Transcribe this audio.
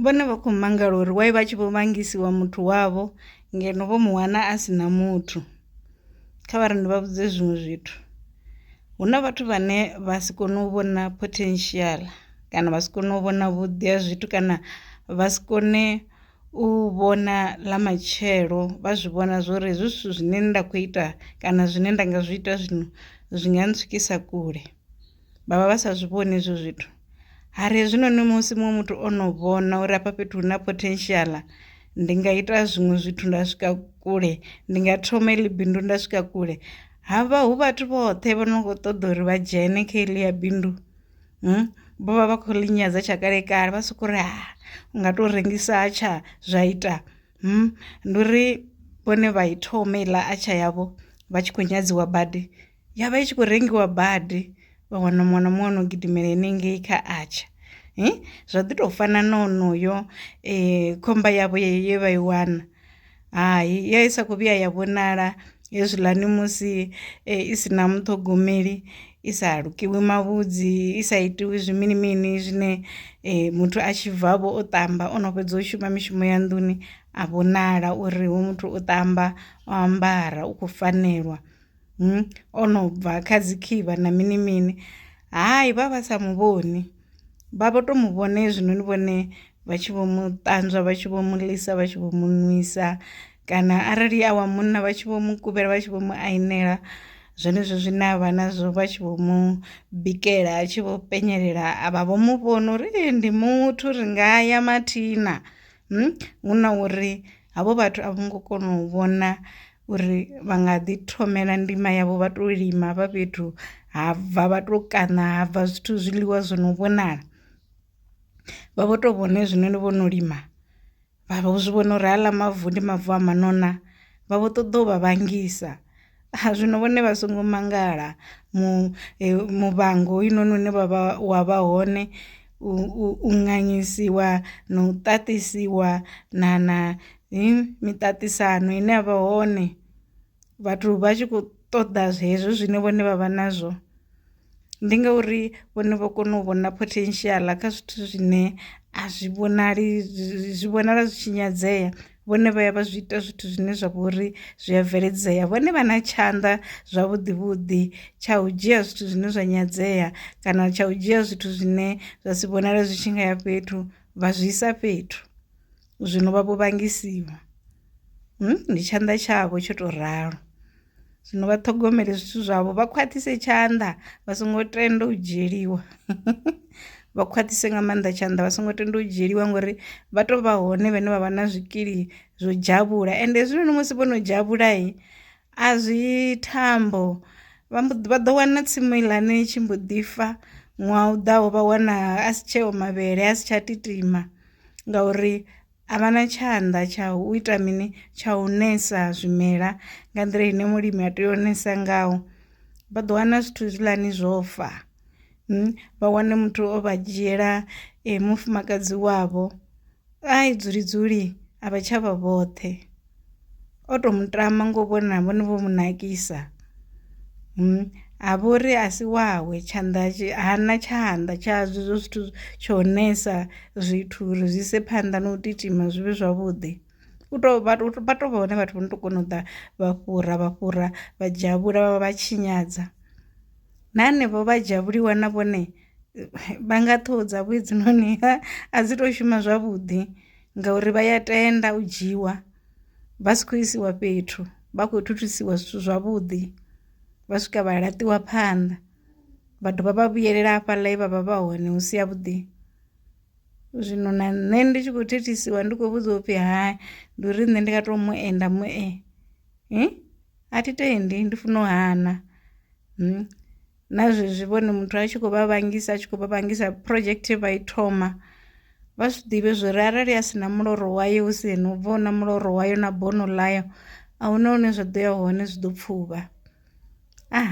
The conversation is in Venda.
Vhone vha khou mangala uri why vha tshi vho vhangisiwa muthu wavho ngeno vho mu wana a si na muthu kha vha ri ndi vha vhudze zwiṅwe zwithu hu na vhathu vhane vha si kone u vhona potential kana vha si kone u vhona vhuḓi ha zwithu kana vha si kone u vhona ḽa matshelo vha zwi vhona zwori hezwi zwithu zwine nda kho ita kana zwine nda nga zwi ita zwino zwi nga ntswikisa kule. vha vha vha sa zwi vhoni hezwo zwithu hari hezwinoni musi muṅwe muthu o no vhona uri afha fhethu hu na potential ndi nga ita zwiṅwe zwithu nda swika kule ndi nga thoma iḽi bindu nda swika kule havha hu vhathu vhoṱhe vho no khou ṱoḓa uri vha dzhene kha iḽi ya bindu hmm? vho vha vha khou linyadza tsha kale kale vha soko ri ha u nga tou rengisa tsha zwa ita hmm? ndi uri vhone vha i thoma iḽa atsha yavho vha tshi khou nyadziwa badi ya vha i tshi khou rengiwa badi vha wana muṅwe na muṅwe no gidimela henengei kha atsha eh? zwa ḓi tou fana na onoyo eh, khomba yavho ye vha i wana hai ya i sa khou vhuya ya vhonala hezwiḽani musi eh, i si na muṱhogomeli i sa lukiwi mavhudzi i sa itiwi zwimini mini zwine eh, muthu a tshi bvavho o ṱamba o no fhedza u shuma mishumo ya nḓuni a vhonala uri hu muthu o ṱamba o ambara u khou fanelwa hmm? o no bva kha dzi khivha na mini mini hai vha vha sa mu vhoni vha vho to mu vhona hezwinoni vhone vha tshi vho mu ṱanzwa vha tshi vho mu ḽisa vha tshi vho mu nwisa kana arali a wa munna vha tshi vho mu kuvhela vha tshi vho mu ainela zwenezwo zwine a vha nazwo vha tshi vho mu bikela a tshi vho penyelela a vha vho mu vhona uri ndi muthu ri nga ya mathina. Hu na uri havho vhathu a vho ngo kona u vhona uri vha nga ḓi thomela ndima yavho vha to lima vha fhethu ha bva vha to kaṋa ha bva zwithu zwiḽiwa zwo no vhonala vha vho to vhona hezwino ni vho no lima vha vho zwi vhona uri haaḽa mavu ndi mavu a maṋe na vha vho ṱoḓa u vha vha ngisa Zwino vhone vha songo mangala mu muvhango hoyunoni une vha vha wa vha hone u nganyisiwa na u ṱaṱisiwa na na miṱaṱisano ine ya vha hone vhathu vha tshi kho ṱoḓa zwezwo zwine vhone vha vha nazwo. ndi ngauri vhone vho kona u vhona potential kha zwithu zwine a zwi vhonali zwi vhonala zwi tshi nyadzea vhone vha ya vha zwi ita zwithu zwine zwa vha uri zwi a bveledzea vhone vha na tshanḓa zwavhuḓi vhuḓi tsha u dzhia zwithu zwine zwa nyadzea kana tsha u dzhia zwithu zwine zwa si vhonale zwi tshi nga ya fhethu vha zwi isa fhethu zwino vha vho vhangisiwa. Hmm, ndi tshanḓa tshavho tsho tou ralo zwino vha ṱhogomele zwithu zwavho vha khwaṱhise tshanḓa vha songo tenda u dzhieliwa vha khwaṱhise nga maanḓa tshanḓa vha songo tenda u dzhieliwa ngori vha tou vha hone vhane vha vha na zwikili zwo dzhavhula ende hezwinoni musi vho no dzhavhulai a zwi thambo vha ḓo wana tsimu iḽani tshi mbo ḓi fa ṅwaha u ḓaho vha wana a si tsheo mavhele a si tsha titima ngauri A vha na tshanḓa tsha u ita mini tsha u nesa zwimela nga nḓila ine mulimi a tea u nesa ngaho vha ḓo wana zwithu zwiḽani zwo fa hmm, vha wane muthu o vha dzhiela eh, mufumakadzi wavho ai dzuli dzuli a vha tsha vha vhoṱhe o to mutama ngo vhona vhone vho mu nakisa ha vha uri a si wawe tshanḓa hana tshanḓa tsha zwezwo zwithu tsho nesa zwithu uri zwi ise phanḓa na u titima zwi vhe zwavhuḓi u to vha to vha hone vhathu vho no to kona u ḓa vha fhura vha fhura vha dzhia vhula vha vha tshinyadza na hanevho vha dzhia vhuliwa na vhone vha nga ṱhoho dza vhuedzi noni a dzi to shuma zwavhuḓi ngauri vha ya tenda u dzhiwa vha si khou isiwa fhethu vha khou thuthusiwa zwithu zwavhuḓi vha swika vha laṱiwa phanḓa vha dovha vha vhuyelela hafhaḽa vha vha vha hone hu si ya vhuḓi zwino na nṋe ndi tshi khou thithisiwa ndi khou vhudziwa upfhi ha ndi uri nṋe ndi nga tou mu enda mu e a thi tendi ndi funa u hana na zwezwi vhone muthu a tshi khou vha vhangisa a tshi khou vha vhangisa project vha i thoma vha zwi ḓivhe zwi ri arali a si na muloro wayo hu si ene u bva na muloro wayo na bono ḽayo a huna hune zwa ḓo ya hone zwi ḓo pfuvha ah.